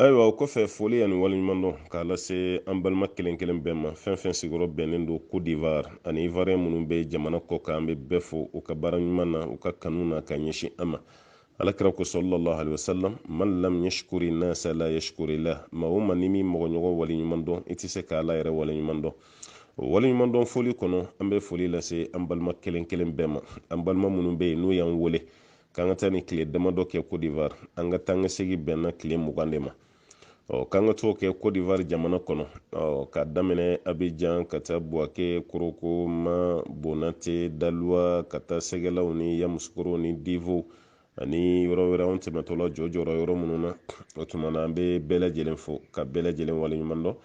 ayiwa o kɔfɛ foli ani waleɲumandɔn k'a lase an balima kelen kelen bɛɛ ma fɛn fɛn sigiyɔrɔ bɛnnen don cote d'ivoire ani ivoirien minnu bɛ jamana kɔ kan an bɛ bɛɛ fo u ka baara ɲuman na u ka kanu na ka ɲɛsin an ma ala kira ko sɔlɔlɔhu alaihi wasalam man lam yashkuri nasa la yashkuri la maa o maa n'i m'i mɔgɔɲɔgɔn waleɲumandɔn i tɛ se k'ala yɛrɛ waleɲumandɔn o waleɲumandɔn foli kɔnɔ an bɛ foli lase an balima kelen kelen bɛɛ ma an balima minnu bɛ yen n'u y'an wele k'an ka taa nin tile damadɔ kɛ cote d'ivoire an ka taa ka segi bɛnna tile mugan de ma ɔ k'an ka t'o kɛ cote d'ivoire jamana kɔnɔ ɔ ka daminɛ abijan ka taa buwake korogo man bonate daluwa ka taa segelaw ni yamusukorow ni divow ani yɔrɔ wɛrɛ an tɛmɛtɔla jɔjɔra yɔrɔ minnu na o tuma na an bɛ bɛɛ lajɛlen fo ka bɛɛ lajɛlen waleɲuman dɔn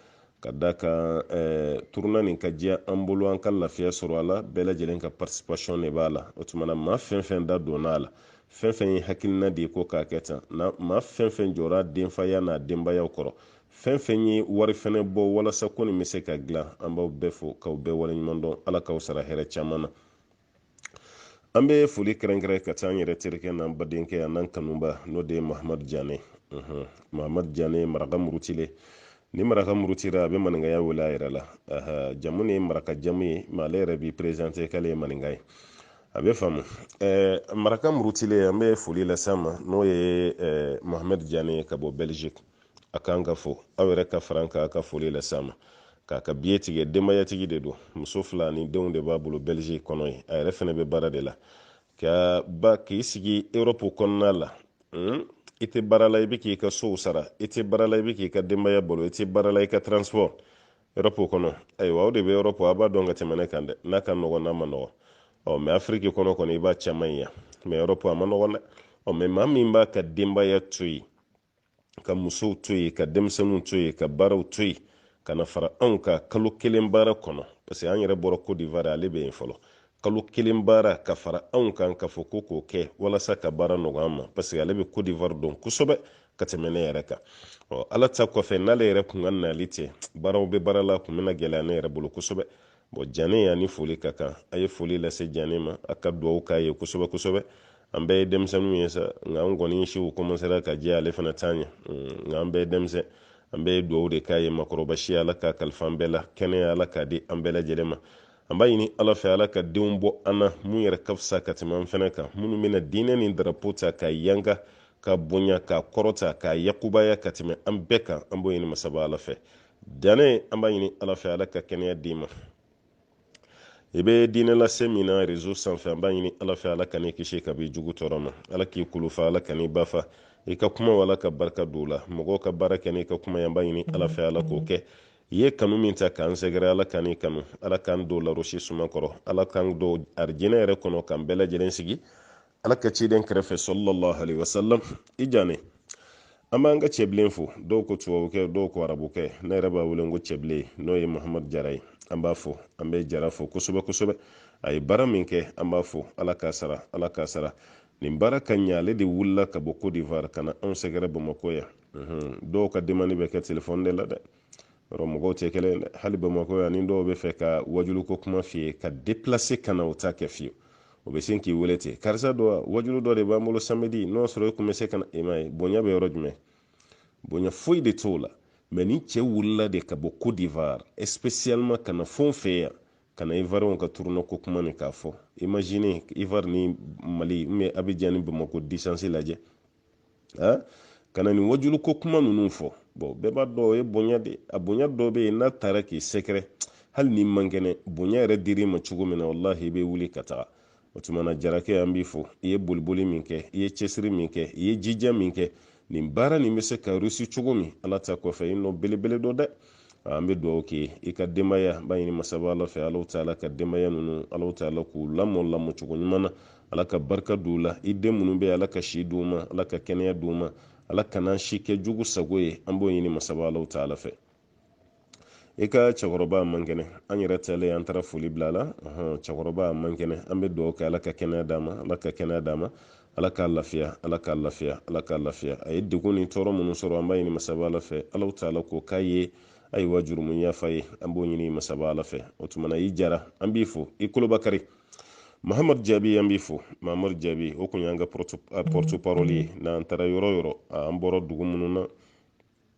ka da kan eh, turuna nin ka diya an bolo an ka lafiya sɔrɔ a la bɛɛ lajɛlen ka participation de b'a la o tuma na maa fɛn fɛn da donna a la fɛn fɛn ye hakilina di ko k'a kɛ tan na maa fɛn fɛn jɔra a denfaya n'a denbayaw kɔrɔ fɛn fɛn ye wari fɛnɛ bɔ walasa ko nin bɛ se ka dilan an b'aw bɛɛ fo k'aw bɛɛ waleɲuman dɔn ala k'aw sara hɛrɛ caman na an bɛ foli kɛrɛnkɛrɛn ka taa an yɛrɛ terikɛ n'an badenkɛ ani an kanubaa n'o de ye mahamadu jane mahamadu jane maraka murutilen ni maraka murutira a bɛ maninkaya wele a yɛrɛ la jamu nin ye maraka jamu ye mais ale yɛrɛ b'i perezante k'ale ye maninka ye a bɛ f'a ma maraka murutilen an bɛ foli las'a ma n'o ye mahamadu jane ka bɔ belgique a kan ka fo aw yɛrɛ ka far'an kan ka foli las'a ma k'a ka biye tigɛ denbayatigi de don muso fila ni denw de b'a bolo belgique kɔnɔ yen a yɛrɛ fɛnɛ bɛ baara de la ka ba k'i sigi europe kɔnɔna la hmm? i tɛ baara la i bɛ k'i ka sow sara i tɛ baara la i bɛ k'i ka denbaya balo i tɛ baara la i ka transport europe kɔnɔ ayiwa aw de bɛ europe aw b'a dɔn ka tɛmɛ ne kan dɛ n'a ka nɔgɔn n'a man nɔgɔn ɔ mais afiriki kɔnɔ kɔni i b'a caman ye yan mais europe a man nɔgɔn dɛ ɔ mais maa min b'a ka denbaya to yen ka musow to yen ka denmisɛnninw to yen ka baaraw to yen ka na fara anw ka kalo kelen baara kɔnɔ parce que an yɛrɛ bɔra cote d'ivoire ale bɛ yen fɔlɔ kalo kelen baara ka fara anw kan k'a fɔ ko k'o kɛ walasa ka baara nɔgɔya an ma parce que ale bɛ cote d'ivoire dɔn kosɛbɛ ka tɛmɛ ne yɛrɛ kan ɔ ala ta kɔfɛ n'ale yɛrɛ kun ka nali tɛ baaraw bɛ baara la kun bɛna gɛlɛya ne yɛrɛ bolo kosɛbɛ bɔn jane y'a ni foli ka kan a ye foli lase jane ma a ka duwawu k'a ye kosɛbɛ kosɛbɛ an bɛɛ ye denmisɛnninw ye sa nka an kɔni siw kɔmansera ka jɛ ale fana t'an ye hmm, nka an bɛɛ ye denmisɛn an bɛɛ ye duwawu de k'a ye maakɔrɔba si ala k'a kalifa an bɛɛ la kɛnɛya ala k'a di an bɛɛ lajɛlen ma an b'a ɲini ala fɛ ala ka denw bɔ an na min yɛrɛ ka fisa ka tɛmɛ an fana kan minnu bɛna diinɛ ni darapo ta k'a yanga k'a bonya k'a kɔrɔta k'a yakubaya ka tɛmɛ an bɛɛ kan an b'o ɲini masaba ala fɛ jane an b'a ɲini ala fɛ ala ka kɛnɛya d'i ma i bɛ diinɛ lase min na rezo sanfɛ an b'a ɲini ala fɛ ala kan'i kisi ka b'i jugu tɔɔrɔ ma ala k'i kulufa ala kan'i ba fa i ka kuma ala ka barika don la mɔgɔw ka baara kɛ n'i ka kuma ye an b'a ɲini ala fɛ ala k'o kɛ i ye kanu min ta k'an sɛgɛrɛ ala kan'i kanu ala k'an don larasi suma kɔrɔ ala k'an don arijinɛ yɛrɛ kɔnɔ k'an bɛɛ lajɛlen sigi ala ka ciden kɛrɛfɛ sallallahu alaihi wasallam i jane an b'an ka cɛbilen fo dɔw ko tubabukɛ dɔw ko arabukɛ ne yɛrɛ b'a wele ko cɛbilen n'o ye muhamadu jara ye an b'a fo an bɛ jara fo kosɛbɛ kosɛbɛ a ye baara min kɛ an b'a fo ala k'a sara ala k'a sara nin baara ka ɲɛ ale de wulila ka bɔ cote d'ivoire ka na anw sɛgɛrɛ bamakɔ yan dɔw ka demande bɛ kɛ telefɔni de la dɛ yɔrɔ mɔgɔw tɛ kelen dɛ hali bamakɔ yan ni dɔw b'a fɛ ka wajuluko kuma f'i ye ka deplase ka na o t'a kɛ fiyewu o bɛ sin k'i wele ten karisa dɔ wajulu dɔ de b'an bolo samedi n'o sɔrɔ e kun bɛ se ka na e m'a ye bonya bɛ yɔrɔ jumɛn bonya foyi de t'o la mɛ nin cɛ wulila de ka bɔ cote d'ivoire spécialement ka na fɛn fɛ yan ka na ivoiriyɛnw ka turunɔ ko kuma nin k'a fɔ imagine ivoire ni mali ubiyɛn abidjan ni bamakɔ distance lajɛ a ka na nin wajulu ko kuma ninnu fɔ bɔn bɛɛ b'a dɔn o ye bonya de a bonya dɔ bɛ yen n'a taara k'i sɛgɛrɛ hali n'i man kɛnɛ bonya yɛrɛ dir'i ma cogo min na walahi i bɛ wuli ka taga o tuma na jarakɛ an b'i fo i ye boliboli min kɛ i ye cɛsiri min kɛ i ye jija min kɛ nin baara nin bɛ se ka rusi cogo min ala ta kɔfɛ i nɔ belebele don dɛ an bɛ dugawu kɛ i ka denbaya b'a ɲini masaba ala fɛ ala taala ka denbaya ninnu ala taala k'u lamɔ lamɔ cogo ɲuman na ala ka barika don la i den minnu bɛ ala ka si d'u ma ala ka kɛnɛya d'u ma ala kana si kɛ jugu sago ye an b'o ɲini masaba ala taala fɛ i ka cɛkɔrɔba man kɛnɛ an yɛrɛ talen an taara foli bila la cɛkɔrɔba man kɛnɛ an bɛ dugawu kɛ ala ka kɛnɛya d'a ma ala ka kɛnɛya d'a ma ala k'a lafiya ala k'a lafiya ala k'a lafiya a ye degun ni tɔɔrɔ minnu sɔrɔ an b'a ɲini masaba ala fɛ alahu taala k'o k'a ye ayiwa jurumu yafa ye an b'o ɲini masaba ala fɛ o tumana i jara an b'i fo i koloba kari mahamadu jaabi an b'i fo mahamadu jaabi o kun y'an ka porte parole ye n'an taara yɔrɔ o yɔrɔ an bɔra dugu minnu na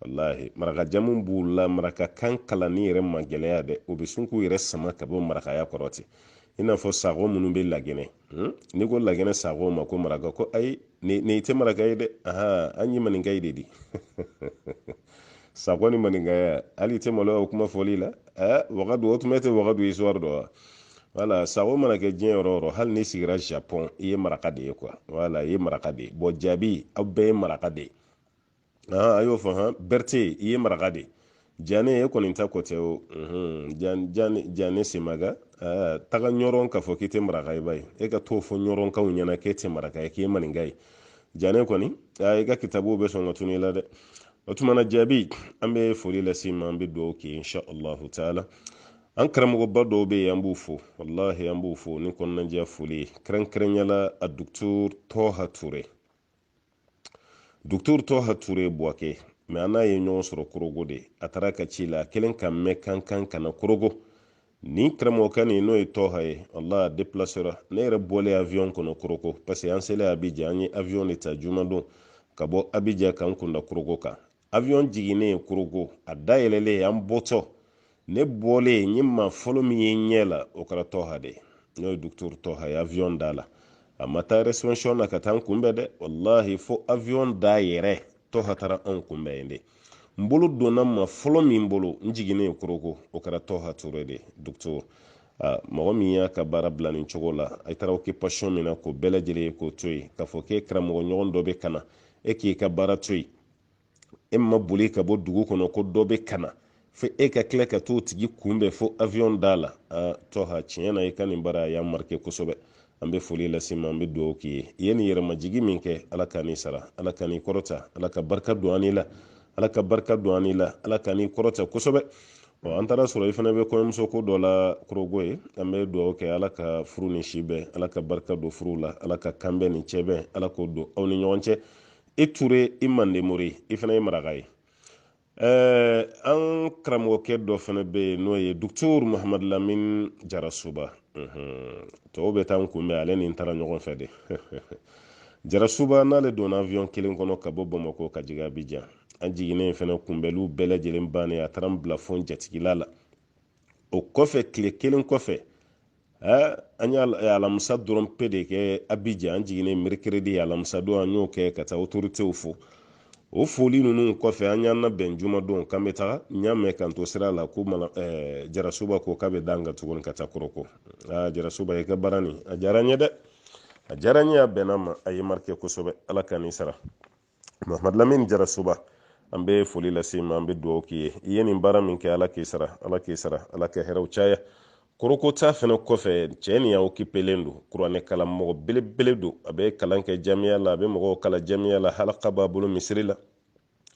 walahi maraka jamu b'u la maraka kan kalanni yɛrɛ ma gɛlɛya dɛ o bɛ sin k'u yɛrɛ sama ka bɔ marakaya kɔrɔ ten i n'a fɔ sago minnu bɛ lagine hmm? n'i ko lagine sago ma ko maraka ko ayi nin i tɛ maraka ye dɛ ahan an ye maninka ye de di sago ni maninkaya hali i tɛ maloya o kuma fɔli la ɛ wagadu o tun bɛ tɛ wagadu ye suwari don wa wala sago mana kɛ diɲɛ yɔrɔ o yɔrɔ hali n'i sigira japɔn i ye maraka de ye kuwa wala i ye maraka de ye bɔn jaabi aw bɛɛ ye maraka de ye a y'o fɔ han berete i ye maraka de jane e kɔni ta ko tɛ o jane semaga taga ɲɔrɔn k'a fɔ k'i tɛ maraka ye ba ye e ka t'o fɔ ɲɔrɔnkaw ɲɛna k'e tɛ maraka ye k'e maninka ye jane kɔni i ka kitabuw bɛ sɔn ka tunun i la dɛ o tuma na jaabi an bɛ foli lase i ma an bɛ dugawu kɛ insha allahu taala an karamɔgɔba dɔw bɛ yen an b'u fo walahi an b'u fo ni kɔnɔnajɛ foli ye kɛrɛnkɛrɛnnenya la a dukutu tɔha ture Dr. Toha Ture bɛ Buwake, mɛ an n'a ye ɲɔgɔn sɔrɔ korogo de a taara ka ci la a kɛlen k'a mɛn k'an ka kan ka na korogo nin karamɔgɔkɛ nin n'o ye tɔha ye walahi a depilasera ne yɛrɛ bɔlen avion kɔnɔ korogo parce que an selen abijan an ye avion de ta jumadon ka bɔ abijan k'an kun da korogo kan avion jiginnen korogo a dayɛlɛlen an bɔtɔ ne bɔlen n ye maa fɔlɔ min ye n ɲɛ la o kɛra tɔha de n'o ye docteur tɔha ye avion da la a ma taa reception na ka taa n kunbɛn dɛ walahi fo avion da yɛrɛ tɔha taara anw kunbɛn yen de n bolo donna maa fɔlɔ min bolo n jiginnen ye korogo o kɛra tɔha ture de docteur mɔgɔ min y'a ka baara bila nin cogo la i taara occupation min na k'o bɛɛ lajɛlen ye k'o to yen k'a fɔ k'e karamɔgɔ ɲɔgɔn dɔ bɛ ka na e k'i ka baara to yen e ma boli ka bɔ dugu kɔnɔ ko dɔ bɛ ka na fo e ka tila ka t'o tigi kunbɛn fo avion da la aa tɔha tiɲɛ na i ka nin baara a y'an marike kosɛbɛ an bɛ foli lase i ma an bɛ dugawu k'i ye i ye nin yɛrɛmajigi min kɛ ala k'an n'i sara ala k'an n'i kɔrɔta ala ka barika don an la ala ka barika don an la ala k'an n'i kɔrɔta kosɛbɛ ɔ an taara a sɔrɔ i fana bɛ kɔɲɔmuso ko dɔ la korogo yen an bɛ dugawu kɛ ala ka furu ni si bɛn ala ka barika don furuw la ala ka kanbɛn ni cɛbɛn ala k'o don aw ni ɲɔgɔn cɛ i ture i mandemori i fana ye maraka ye eh, an karamɔgɔkɛ dɔ fana bɛ yen n'o ye docteur muhamadu lamin jarasuba mhm. tɔw bɛ taa n kunbɛn ale ni n taara ɲɔgɔn fɛ de jarasuba an n'ale donna avion kelen kɔnɔ ka bɔ bamakɔ ka jigin abijan an jiginnen fana kunbɛliw bɛɛ lajɛlen bannen a taara n bila fo jatigila la o kɔfɛ tile kelen kɔfɛ an ye alamisa dɔrɔn pe de kɛ abijan an jiginnen merikiridi alamisa don an y'o kɛ ka taa otoritew fo o foli ninnu kɔfɛ an y'an nabɛn jumadon k'an bɛ taga n y'a mɛn k'an to sira la ko jarasuba ko k'a bɛ d'an kan tuguni ka taa korogo jarasuba i ka baara nin a diyara n ye dɛ a diyara n ye a bɛnna n ma a ye n marike kosɛbɛ ala k'an n'i sara mahamadu lamini jarasuba an bɛ foli lase i ma an bɛ dugawu k'i ye i ye nin baara min kɛ ala k'i sara ala k'i sara ala ka hɛrɛw caya korogo taa fana kɔfɛ cɛ nin a okipelen don kuranɛ karamɔgɔ belebele don a bɛ kalan kɛ jamiya la a bɛ mɔgɔw kalan jamiya la halaka b'a bolo misiri la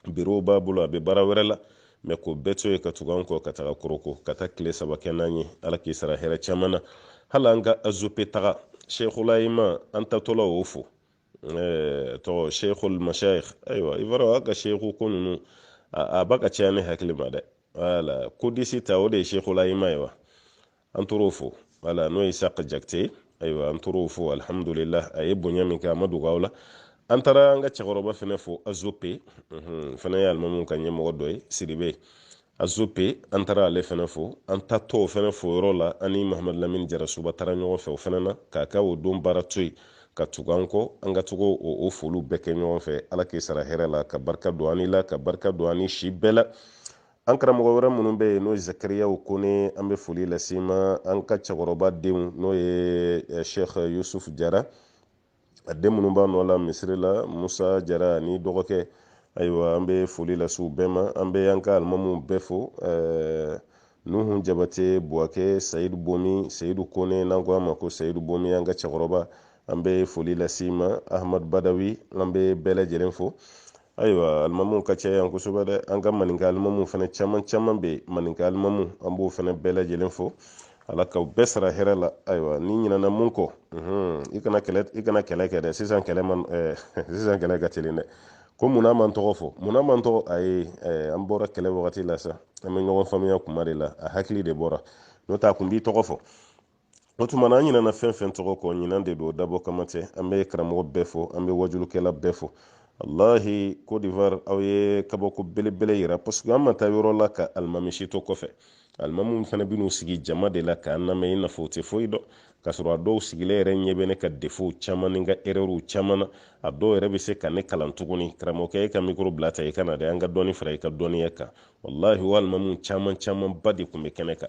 birow b'a bolo a bɛ baara wɛrɛ la mɛ k'o bɛɛ to yen ka tugu an kɔ ka taga korogo ka taa tile saba kɛ n'an ye ala k'i sara hɛrɛ caman na hali an ka azope taga sheikhul ayima an taatɔla o fo tɔgɔ sheikhul mashayikh ayiwa i b'a dɔn a ka sheikhu ko ninnu a ba ka caya ne hakili ma dɛ wala kodisi ta o de ye sheikhul ayima ye wa an taar'o fo wala n'o ye sheikh jakite ye ayiwa an taar'o fo alhamdulillah a ye bonya min kɛ a ma dogo aw la an taara an ka cɛkɔrɔba fɛnɛ fo azope fɛnɛ ye alimamu ka ɲɛmɔgɔ dɔ ye siribe azope an taara ale fɛnɛ fo an taatɔ o fɛnɛ fo yɔrɔ la an ni mahamadu lamini jarasuba taara ɲɔgɔn fɛ o fɛnɛ na k'a ka o don baara to yen ka tugu an kɔ an ka taga o foliw bɛɛ kɛ ɲɔgɔn fɛ ala k'i sara hɛrɛ la ka barika don an n'i la ka barika don an n'i si bɛɛ la an karamɔgɔ wɛrɛ minnu bɛ yen n'o ye zakariyaw kone an bɛ foli las'i ma an ka cɛkɔrɔba denw n'o ye eh, sheikh yusuf jara a den minnu b'a nɔ la misiri la musa jara n'i dɔgɔkɛ ayiwa an bɛ foli lase u bɛɛ ma an bɛ an ka alimamu bɛɛ fo nuhu jabate buwakɛ sayidu bomi sayidu kone n'an ko a ma ko sayidu bomi an ka cɛkɔrɔba an bɛ foli las'i ma ahmadu badawi an bɛ bɛɛ lajɛlen fo ayiwa alimamuw ka caya yan kosɛbɛ dɛ an ka maninka alimamuw fana caman caman bɛ yen maninka alimamu an b'o fana bɛɛ lajɛlen fo ala k'aw bɛɛ sara hɛrɛ la ayiwa ni n ɲinana min kɔ i kana kɛlɛ i kana kɛlɛ kɛ dɛ sisan kɛlɛ man sisan kɛlɛ ka teli dɛ ko munna i ma n tɔgɔ fɔ munna i ma n tɔgɔ ayi an bɔra kɛlɛ wagati la sa an bɛ ɲɔgɔn faamuya kuma de la a hakili de bɔra n'o tɛ a kun b'i tɔgɔ fɔ o tuma na an ɲinana fɛn fɛn tɔgɔ kɔ ɲina de don dabɔ kama tɛ an bɛ karamɔgɔ bɛɛ fo an bɛ wajulukɛla bɛɛ fo alahi cote d'ivoire aw ye kabako belebele yira parce que an ma taa yɔrɔ la ka alimami si to kɔfɛ alimamu fana bɛ n'u sigi jama de la k'an lamɛn i n'a fɔ u tɛ foyi dɔn k'a sɔrɔ a dɔw sigilen yɛrɛ ɲɛ bɛ ne ka defow caman ni n ka erɛriw caman na a dɔw yɛrɛ bɛ se ka ne kalan tuguni karamɔgɔkɛ e ka mikoro bila tan i ka na dɛ an ka dɔɔni fara i ka dɔnniya kan walahi o alimamu caman camanba de tun bɛ kɛnɛ kan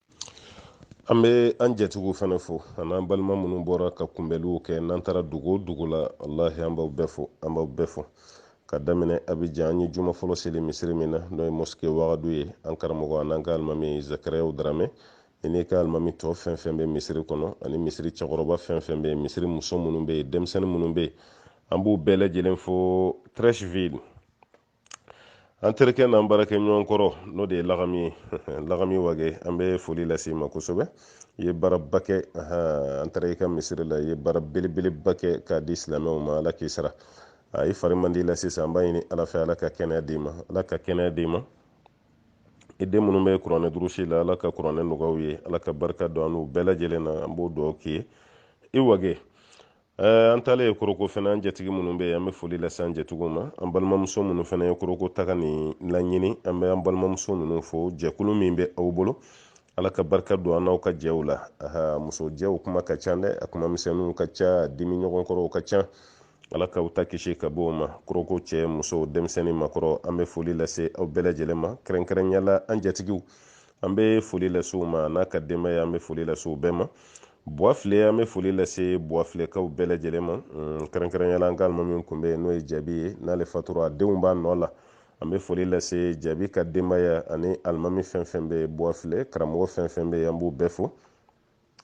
an bɛ an jɛtigiw fana fo an'an balima minnu bɔra ka kunbɛnliw kɛ n'an taara dugu o dugu la alahi an b'aw bɛɛ fo an b'aw bɛɛ fo ka daminɛ abijan an ye juma fɔlɔ seli misiri min na n'o ye mosike wagadu ye an karamɔgɔ an'an ka alimami zakariyaw daramɛ i n'i ka alimami tɔ fɛn fɛn bɛ misiri kɔnɔ ani misiri cɛkɔrɔba fɛn fɛn bɛ yen misiri muso minnu bɛ yen denmisɛnnin minnu bɛ yen an b'u bɛɛ lajɛlen fo treichville an terikɛ n'an baarakɛɲɔgɔn kɔrɔ n'o de ye lagami ye lagami wage an bɛ foli las'i ma kosɛbɛ i ye baaraba kɛ an taara i ka misiri la i ye baara belebeleba kɛ k'a di silamɛw ma ala k'i sara a i fari man d'i la sisan an b'a ɲini ala fɛ ala ka kɛnɛya d'i ma ala ka kɛnɛya d'i ma i den minnu bɛ kuranɛ durusi la ala ka kuranɛ nɔgɔya u ye ala ka barika don an n'u bɛɛ lajɛlen na an b'o dugawu k'i ye i wage Eh, an taalen ye koroko fɛnɛ an jatigi minnu bɛ an bɛ foli lase an jatigiw ma an balimamuso minnu fɛnɛ ye koroko taga ni laɲini an bɛ an balimamuso ninnu fo jɛkulu min bɛ aw bolo ala ka barika don an n'aw ka jɛw la aha muso jɛw kuma ka ca dɛ a kuma misɛnninw ka ca dimi ɲɔgɔn kɔrɔw ka ca ala ka u ta kisi ka bɔ o ma koroko cɛ muso denmisɛnnin makɔrɔ an bɛ foli lase aw bɛɛ lajɛlen ma kɛrɛnkɛrɛnyala an jatigiw an bɛ foli lase u ma an'a ka denbaya an bɛ foli lase u bɛɛ ma buwafile an bɛ foli lase buwafilɛkaw bɛɛ lajɛlen ma mm, kɛrɛnkɛrɛnyala an ka alimami tun bɛ yen n'o ye jaabi ye n'ale fatura a denw b'a nɔ la an bɛ foli lase jaabi ka denbaya ani alimami fɛn fɛn bɛ buwafile karamɔgɔ fɛn fɛn bɛ yen an b'u bɛɛ fo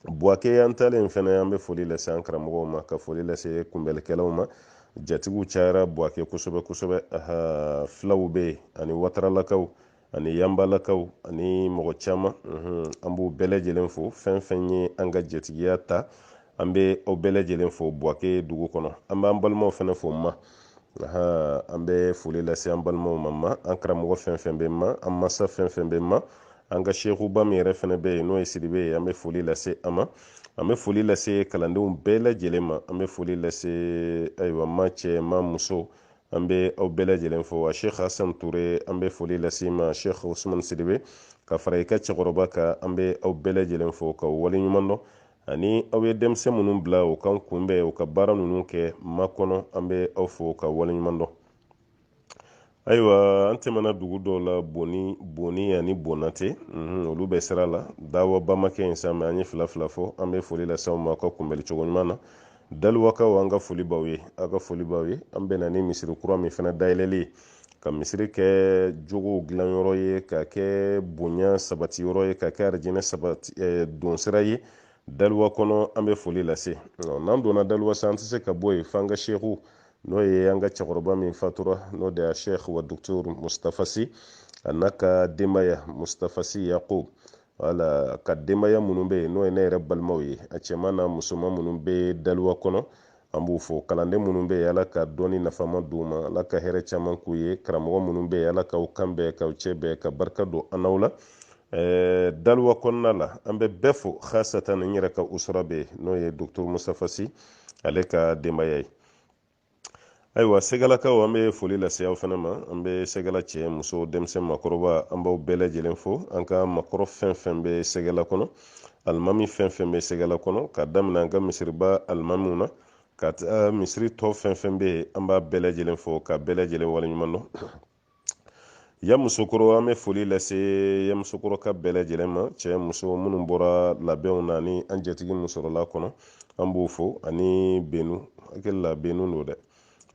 buwake an taalen fɛnɛ an bɛ foli lase an karamɔgɔw ma ka foli lase kunbɛlikɛlaw ma jatigiw cayara buwake kosɛbɛ kosɛbɛ filaw bɛ yen ani wataralakaw ani yanbalakaw ani mɔgɔ caman an b'u bɛɛ lajɛlen fo fɛn fɛn ye an ka jatigiya ta an bɛ aw bɛɛ lajɛlen fo buwake dugu kɔnɔ an b'an balimaw fɛnɛ fo ma an bɛ foli lase an balimaw ma ma an karamɔgɔ fɛn fɛn bɛ ma an masa fɛn fɛn bɛ ma an ka sekuba min yɛrɛ fɛnɛ bɛ yen n'o ye sidibe ye an bɛ foli lase a ma an bɛ foli lase kalandenw bɛɛ lajɛlen ma an bɛ foli lase ayiwa ma cɛ ma muso an bɛ aw bɛɛ lajɛlen fo wa sheikh hasan ture an bɛ foli lase ma sheikh usman sidibe ka fara i ka cɛkɔrɔba kan an bɛ aw bɛɛ lajɛlen fo ka waleɲuman dɔn ani aw ye denmisɛn minnu bila u k'an kunbɛn u ka baara ninnu kɛ ma kɔnɔ an bɛ aw fo ka waleɲuman dɔn ayiwa an tɛmɛna dugu dɔw la boni boni ani bonate mhm, olu bɛ sira la dawaba ma kɛ yen sa mɛ an ye fila fila fɔ an bɛ foli lase ma ka kunbɛli cogo ɲuman na daliwakaw an ka foli b'aw ye an ka foli b'aw ye an bɛna ni misiri kura min fana dayɛlɛli ye ka misiri kɛ jogow dilanyɔrɔ ye ka kɛ bonya sabati yɔrɔ ye ka kɛ arijinɛ sabati eh, donsira ye daliwa kɔnɔ an bɛ foli lase n'an donna daliwa sa an tɛ se ka bɔ yen f'an ka seku n'o ye an ka cɛkɔrɔba min fatura n'o de y'a sheikh wa doctor mustafa si an'a ka denbaya mustafa si yakob wala ka denbaya minnu bɛ yen n'o ye ne yɛrɛ balimaw ye a cɛman n'a musoman minnu bɛ daliwa kɔnɔ an b'u fo kalanden minnu bɛ yen ala ka dɔnni nafama d'u ma ala ka hɛrɛ caman k'u ye karamɔgɔ minnu bɛ yen ala k'aw kan bɛn k'aw cɛ bɛn ka barika don an n'aw la Eh, daliwa kɔnɔna la an bɛ bɛɛ fo hasatan n yɛrɛ ka usura bɛ n'o ye doctor mustafa si ale ka denbaya ye ayiwa segalakaw an bɛ foli lase aw fɛnɛ ma an bɛ segala cɛ muso denmisɛn makɔrɔba an b'aw bɛɛ lajɛlen fo an ka makɔrɔ fɛn fɛn bɛ segala kɔnɔ alimami fɛn fɛn bɛ segala kɔnɔ ka daminɛ an ka misiriba alimamiw na ka taa misiri tɔ fɛn fɛn bɛ yen an b'a bɛɛ lajɛlen fo ka bɛɛ lajɛlen waleɲuman dɔn yamusokɔrɔ an bɛ foli lase yamusokɔrɔkaw bɛɛ lajɛlen ma cɛ muso minnu bɔra labɛnw na ni an jatigi min sɔrɔla kɔnɔ an b'o fo ani benu hakili la benu don dɛ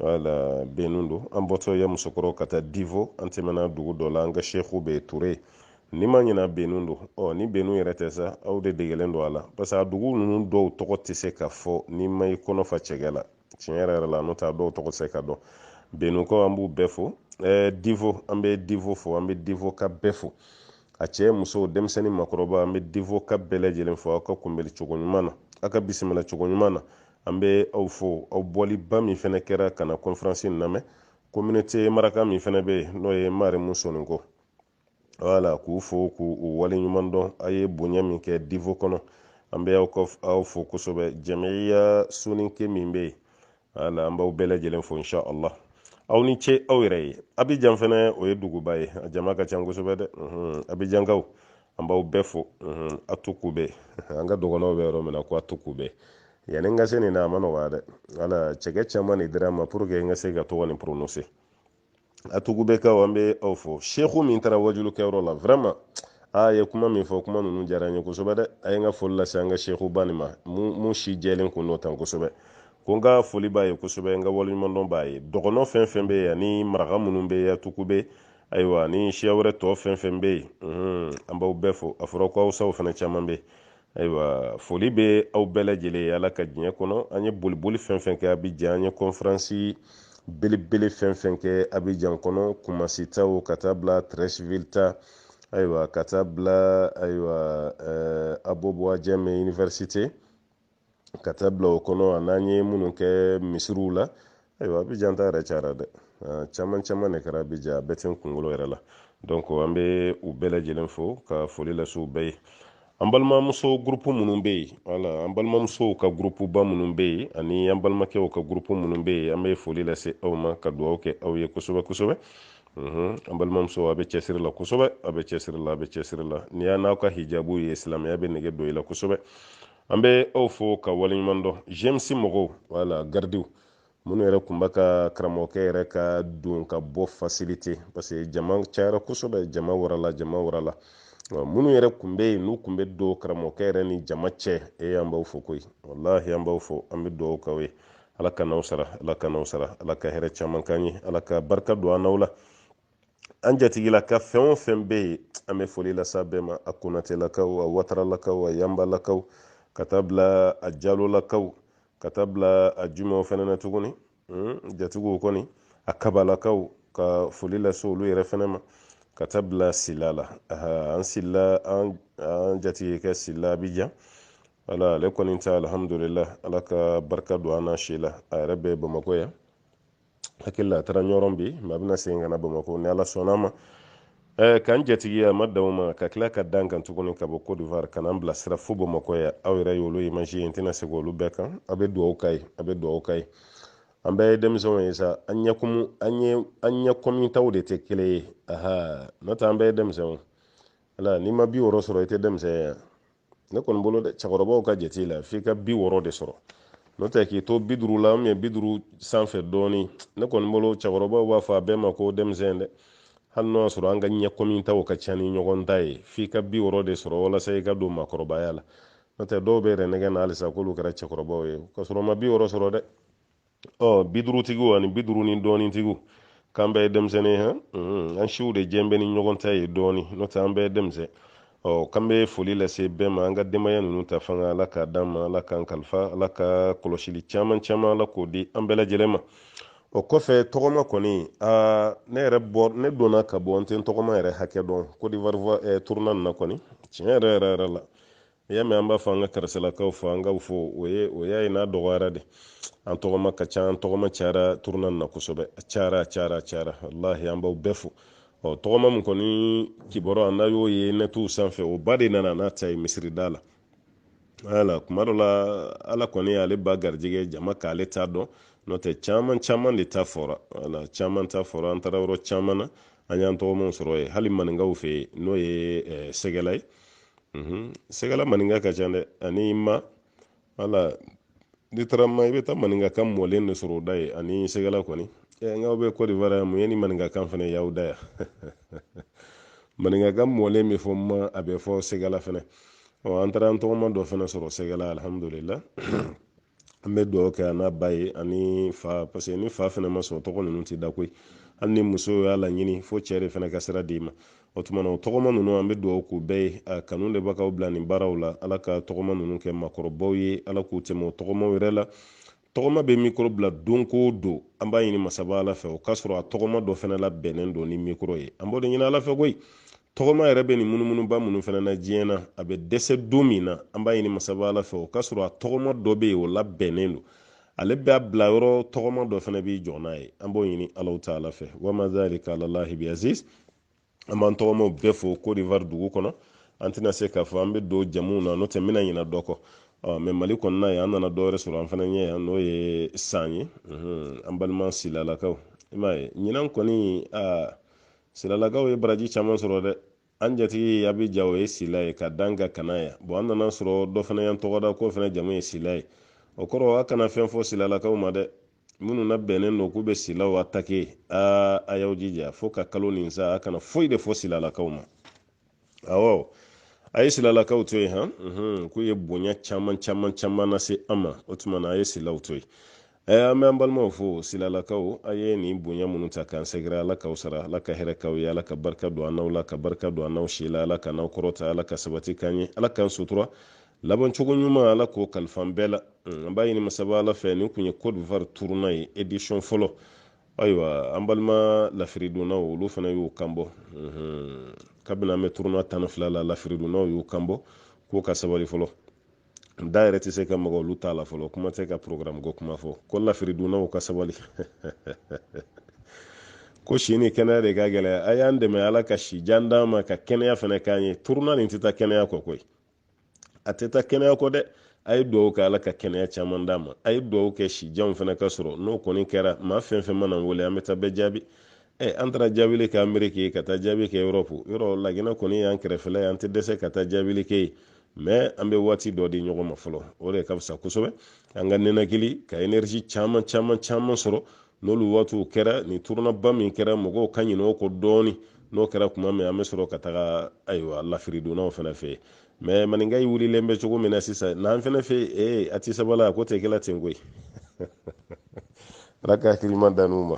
wala benu don an bɔtɔ yamusokɔrɔ ka taa divo an tɛmɛna dugu dɔ la an ka seku bɛ ture ni n ma ɲina benu don ɔ ni benu yɛrɛ tɛ sa aw de degelen don a la parce que a dugu ninnu dɔw tɔgɔ tɛ se ka fɔ n'i ma i kɔnɔ fa cɛkɛ la tiɲɛ yɛrɛ yɛrɛ la n'o tɛ a dɔw tɔgɔ se ka dɔn benukaw an b'u bɛɛ fo ɛɛ divo an bɛ divo fo an bɛ divokaw bɛɛ fo a cɛ muso denmisɛnnin makɔrɔba an bɛ divokaw bɛɛ lajɛlen fo aw ka kunbɛli cogo ɲuman na aw ka bisimila cogo ɲuman na an bɛ aw fo aw bɔliba min fana kɛra ka na kɔnferansi in lamɛn communauté maraka min fana bɛ yen n'o ye marimu soninko wala k'u fo k'u waleɲuman dɔn a ye bonya min kɛ divo kɔnɔ an bɛ aw fo kosɛbɛ jɛmɛya soninke min bɛ yen wala an b'aw bɛɛ lajɛlen fo insha allah aw ni ce aw yɛrɛ ye abijan fɛnɛ o ye duguba ye a jama ka ca kosɛbɛ dɛ abijankaw an b'aw bɛɛ fo atekube an ka dɔgɔnɔw bɛ yɔrɔ min na ko atekube yanni n ka se nin na a ma nɔgɔya dɛ wala cɛkɛ caman de dira n ma pour que n ka se ka tɔgɔ nin prononcer atekubekaw an bɛ aw fo seku min taara wajuli kɛyɔrɔ la vraiment a ye kuma min fɔ kuma ninnu diyara n ye kosɛbɛ dɛ a ye n ka foli lase an ka seku ba nin ma min si jɛlen tun don tan kosɛbɛ ko n ka foli b'a ye kosɛbɛ n ka waleɲumandɔn b'a ye dɔgɔnɔ fɛn fɛn bɛ yen ani maraka minnu bɛ atekube ayiwa ni siya wɛrɛ tɔ fɛn fɛn bɛ yen an b'aw bɛɛ fo a fɔra ko awusaw fana caman bɛ yen ayiwa foli bɛ aw bɛɛ lajɛlen ye ala ka diɲɛ kɔnɔ an ye boliboli fɛn fɛn kɛ abijan an ye kɔnfiransi belebele fɛn fɛn kɛ abijan kɔnɔ kumasi taw ka taa bila trɛsivili ta ayiwa ka taa bila ayiwa ɛɛ abobo ajame université ka taa bila o kɔnɔ ani an ye minnu kɛ misiriw la ayiwa abijan ta yɛrɛ cayara dɛ caman caman de kɛra abijan a bɛɛ tɛ n kunkolo yɛrɛ la donc an bɛ u bɛɛ lajɛlen fo ka foli lase u bɛɛ ye an balimamuso gurupu minnu bɛ yen wala an balimamusow ka gurupuba minnu bɛ yen ani an balimakɛw ka gurupu minnu bɛ yen an bɛ foli lase aw ma ka dugawu kɛ aw ye kosɛbɛ kosɛbɛ an balimamusow a bɛ cɛsiri la kosɛbɛ a bɛ cɛsiri la a bɛ cɛsiri la n'i y'aw n'aw ka hijabu ye silamɛya bɛ nege don i la kosɛbɛ an bɛ aw fo ka waleɲuman dɔn gmc mɔgɔw wala garidiw minnu yɛrɛ tun bɛ ka karamɔgɔkɛ yɛrɛ ka don ka bɔ faciliter parce que jama cayara kosɛbɛ jama warala jama warala minnu yɛrɛ tun bɛ yen n'u tun bɛ don karamɔgɔkɛ yɛrɛ ni jama cɛ e an b'aw fo koyi walahi an b'aw fo an bɛ dugawu k'aw ye ala k'an n'aw sara ala k'an n'aw sara ala ka hɛrɛ caman k'an ye ala ka barika don an n'aw la an jatigilaka fɛn o fɛn bɛ yen an bɛ foli lase bɛɛ ma a konatelakaw a wataralakaw a yanbalakaw ka taa bila a jalolakaw ka taa bila a jumaw fana na tuguni hmm, jatigiw kɔni a kabalakaw ka foli lase olu yɛrɛ fana ma ka taa bila sila la an sila an jatigikɛ sila abijan ala ale kɔni ta alihamudulila ala ka barika don a n'a si la a yɛrɛ bɛ bamakɔ yan hakili la a taara ɲɔrɔn bi mɛ a bɛna segin ka na bamakɔ ni ala sɔnn'a ma eh, k'an jatigiya ma danw ma ka tila ka d'a kan tuguni ka bɔ cote d'ivoire ka n'an bilasira fo bamakɔ yan aw yɛrɛ y'olu image ye n tɛna segin olu bɛɛ kan an bɛ duwawu k'a ye an bɛ duwawu k'a ye an bɛɛ ye denmisɛnw ye sa an ɲɛkumu an ye an ɲɛkɔmitaw de tɛ kelen ye aha n'o tɛ an bɛɛ ye denmisɛnw ala n'i ma bi wɔɔrɔ sɔrɔ i tɛ denmisɛn ye ne kɔni bolo dɛ cɛkɔrɔbaw ka jate la f'i ka bi wɔɔrɔ de sɔrɔ n'o tɛ k'i to bi duuru la mɛ bi duuru sanfɛ dɔɔni ne kɔni bolo cɛkɔrɔbaw b'a fɔ a bɛɛ ma ko denmisɛn dɛ hali n'o y'a sɔrɔ an ka ɲɛkɔmi taw ka ca ni ɲɔgɔn ta ye f'i ka bi wɔɔrɔ de sɔrɔ walasa i ka don maakɔrɔbaya la n'o tɛ dɔw bɛ yɛrɛ nɛgɛn na halisa k'olu kɛra cɛkɔrɔbaw ye k'a sɔrɔ u ma bi wɔɔrɔ sɔrɔ dɛ ɔ bi duurutigiw ani bi duuru ni dɔɔnin tigiw k'an bɛɛ ye denmisɛnnin hɛn hmm, an siw de jɛn bɛ ni ɲɔgɔn ta ye dɔɔnin n'o tɛ an bɛɛ ye denmisɛn ɔ k'an bɛ foli lase bɛɛ ma an ka denbaya ninnu ta fanga ala k'a d'an ma ala k'an kalifa ala ka kɔlɔsili caman caman ala k'o di an bɛɛ lajɛlen ma o kɔfɛ tɔgɔma kɔni aa ne yɛrɛ bɔ ne donna ka bɔ n tɛ n tɔgɔma yɛrɛ hakɛ dɔn kodiwari eh, tournée nin na kɔni tiɲɛ yɛrɛ yɛrɛ yɛrɛ la i y'a mɛn an b'a fɔ an ka karisalakaw fo an k'a fɔ o ye o y'a ye n'a dɔgɔyara de an tɔgɔma ka ca an tɔgɔma cayara tournée na kosɛbɛ a cayara a cayara a cayara walahi an b'aw bɛɛ fo ɔ tɔgɔma min kɔni kibaru an na y'o ye nɛtuw sanfɛ o ba de nana n'a ta ye misirida la wala kuma dɔ la ala kɔni ale ba garijɛgɛ jama k'ale ta dɔn n'o tɛ caman caman de ta fɔra wala caman ta fɔra an taara yɔrɔ caman na an y'an tɔgɔmaw sɔrɔ yen hali maninkaw fɛ yen n'o ye sɛgɛla ye mhm. sɛgɛla maninka ka ca dɛ ani man wala n'i taara man i bɛ taa maninka kan mɔlen de sɔrɔ o da yen ani sɛgɛla kɔni ɛ eh, nka bɛ kɔdiwari yan mun ye ni maninka kan fana y'aw da yan maninka kan mɔlen bɛ fɔ man a bɛ fɔ sɛgɛla fana ɔ an taara an tɔgɔma dɔ fana sɔrɔ sɛgɛla alihamudulila an bɛ dugawu kɛ a n'a ba ye ani a fa parce que ni fa fana ma sɔn tɔgɔ ninnu tɛ da koyi hali ni muso y'a laɲini fo cɛ de fana ka sira d'i ma o tuma na o tɔgɔma ninnu an bɛ dugawu k'u bɛɛ ye a kanu de b'a k'aw bila nin baaraw la ala ka tɔgɔma ninnu kɛ makɔrɔbaw ye ala k'u tɛmɛ o tɔgɔmaw yɛrɛ la tɔgɔma bɛ mikoro bila don ko don an b'a ɲini masaba ala fɛ o k'a sɔrɔ a tɔgɔma dɔ fana la bɛnnen don ni mikoro ye an b'o de ɲini ala fɛ koyi tɔgɔma yɛrɛ bɛ nin munumunuba minnu fana na diɲɛ na a bɛ dɛsɛ don min na an b'a ɲini masaba ala fɛ o k'a sɔrɔ a tɔgɔma dɔ bɛ yen o labɛnnen don ale bɛ a bila yɔrɔ tɔgɔma dɔ fana bɛ jɔ n'a ye an b'o ɲini alahu taala fɛ wama zalika alalahi bi aziz an b'an tɔgɔmaw bɛɛ fo kodivari dugu kɔnɔ an tɛna se k'a fɔ an bɛ don jamuw na n'o tɛ bɛna ɲina dɔ kɔ mɛ mali kɔnɔna ye an nana dɔwɛrɛ sɔrɔ an fana ɲɛ yan n'o ye san ye an balima silalakaw i m'a ye ɲinan kɔni silalakaw ye baraji caman sɔrɔ dɛ an jatigi abijan o ye sila ye ka dan ka kana ya bɔn an nana sɔrɔ dɔ fana y'an tɔgɔ da k'o fana jamu ye sila ye o kɔrɔ a kana fɛn fɔ silalakaw ma dɛ minnu nabɛnnen don k'u bɛ silaw atake aa a y'aw jija fo ka kalo nin sa a kana foyi de fɔ silalakaw ma awɔ a ye silalakaw to yen han mhm, k'u ye bonya caman caman caman nase an ma o tuma na a ye silaw to yen ɛɛ an bɛ an balimaw fo silalakaw a ye nin bonya minnu ta k'an sɛgɛrɛ ala k'aw sara ala ka hɛrɛ k'aw ye ala ka barika don an n'aw la ka barika don an n'aw si la ala k'an n'aw kɔrɔta ala ka sabati k'an ye ala k'an sutura laban cogo ɲuman ala k'o kalifa an bɛɛ la mm, an b'a ɲini masaba ala fɛ nin tun ye cote d'ivoire turuna ye edisɔn fɔlɔ ayiwa an balima lafiridonnaw olu fana y'u kan bɔ kabini an bɛ turuna tan ni fila la lafiridonnaw y'u kan bɔ k'u ka sabali fɔlɔ da yɛrɛ tɛ se ka maga olu ta la fɔlɔ kuma tɛ ka programme ko kuma fɔ ko lafiridonnaw ka sabali ko si ni kɛnɛya de ka gɛlɛya a y'an dɛmɛ ala ka si jan d'an ma ka kɛnɛya fana k'an ye turuna nin tɛ taa kɛnɛya kɔ koyi a tɛ taa kɛnɛya kɔ dɛ a ye dugawu kɛ ala ka kɛnɛya caman d'a ma a ye dugawu kɛ si jan fana ka sɔrɔ n'o kɔni kɛra maa fɛn fɛn man'an wele an bɛ taa bɛɛ jaabi ɛ an taara jaabili kɛ ameriki ka taa jaabi kɛ erɔpu yɔrɔ laginɛ kɔni y'an kɛrɛfɛla ye an tɛ dɛsɛ ka taa jaabili kɛ yen mɛ an bɛ waati dɔ di ɲɔgɔn ma fɔlɔ o de ka fisa kosɛbɛ an ka ninakili ka enerisi caman caman caman sɔrɔ n'olu waatiw kɛra nin turunaba min kɛra mɔgɔw ka ɲinɛ o kɔ dɔɔni n'o kɛra tuma min an bɛ sɔrɔ ka taga ayiwa lafiridonnaw fana fɛ mɛ maninka yi wulilen bɛ cogo min na sisan n'an fana fɛ ee a tɛ sabali a ko tɛ kɛla ten koyi ala ka hakili ɲuman d'an n'u ma